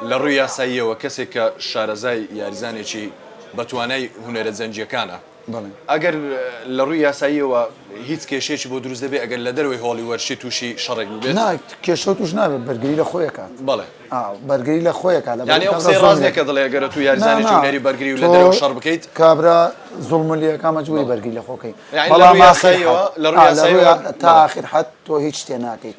لە ڕووی یاساییەوە کەسێک کە شارەزای یاریزانێکی بە توانای هونەرە جەنگییەکانە، ئەگەر لە ڕووی یاساییەوە هیچ کێشەیەکی بۆ دروست دەبێت، ئەگەر لە دەرەوەی هۆڵی وەرشی تووشی شەڕێک ببێت؟ نا، کێشە تووش نابێت، بەرگری لە خۆی ئەکات. بەڵێ. بەرگری لە خۆی ئەکات. یانی ئەو قسەیە ڕاست نییە کە دەڵێت ئەگەر ئەتوو یاریزانێکی هونەری بەرگری و لە دەرەوە شەڕ بکەیت. کابرا زوڵمت لێ ئەکا مەجبووری بەرگری لە خۆ بکەی. یانی لە ڕووی یاساییەوە. لە ڕووی یاساییەوە. تا ئاخر حەد تۆ هیچ شتێ ناکەیت.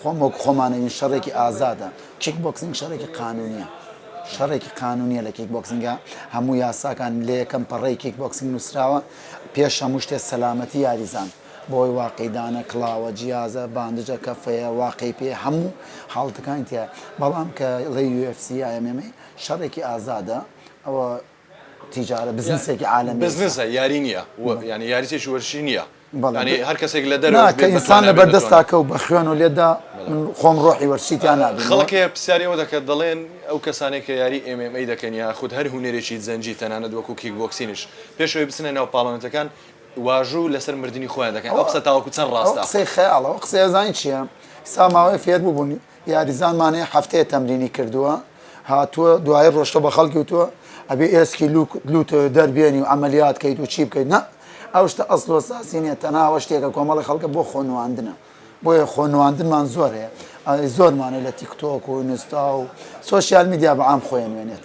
خۆم وەک خۆمانەوین شەڕێکی ئازادە، کیک بۆکسینگ شەڕێکی قانونیە شەڕێکی قانونیە لە کیک بۆکسینگا هەموو یاساکان لە یەکەم پەڕەی کیک بۆکسینگ نووسراوە پێش هەموو شتێ سەلامەتی یاریزان بەوەی واقی دانە کڵاوە جیازە باندجە کەفەیە واقی پێ هەموو حاڵتەکانی تیایە بەڵام کە ڵێی UFC MMA شەڕێکی ئازادە ئەوە تیجارە بزنسێکی عالەمی بزنسە یاری نییە یعنی یاریێکی وەرشی نییە بەڵێ هەر کەسێک لە دەر ئینسان لە بەردەست تاکە و بە خوێن و لێدا خۆم ڕۆحی وەرسییان نابێت خەڵکێ پرسیارەوە دەکات دەڵێن ئەو کەسانێک کە یاری ئێمەی دەکەن یا خود هەر هوەرێکی زەنجی تەنانەت وەکو کیک بۆکسینش پێشەوەی بچنە ناو پاڵەنەتەکان واژوو لەسەر مردنی خۆیان دەکەن ئەو قسە تاوەکو چەند ڕاستە قسەی خەیاڵەوە قسەزانین چیە ساماوەی فێر ببوونی یاریزان مانێ هەفتەیە تەمرینی کردووە هاتووە دوایی ڕۆشتە بە خەڵکی وتووە ئەبێ ئێسکی لووک لووت دەربێنی و عەمەلیات کەیت و چی بکەیت نا ئەو شتە ئەسڵ و ئەساسی نییە تەنها ئەوە شتێکە کۆمەڵی خەڵکە بۆ خۆ نواندنە بۆیە خۆ نواندنمان زۆر هەیە ئەوەی زۆرمانە لە تیکتۆک و ئینستا و سۆشیال میدیا بە عام خۆی ئەنوێنێت.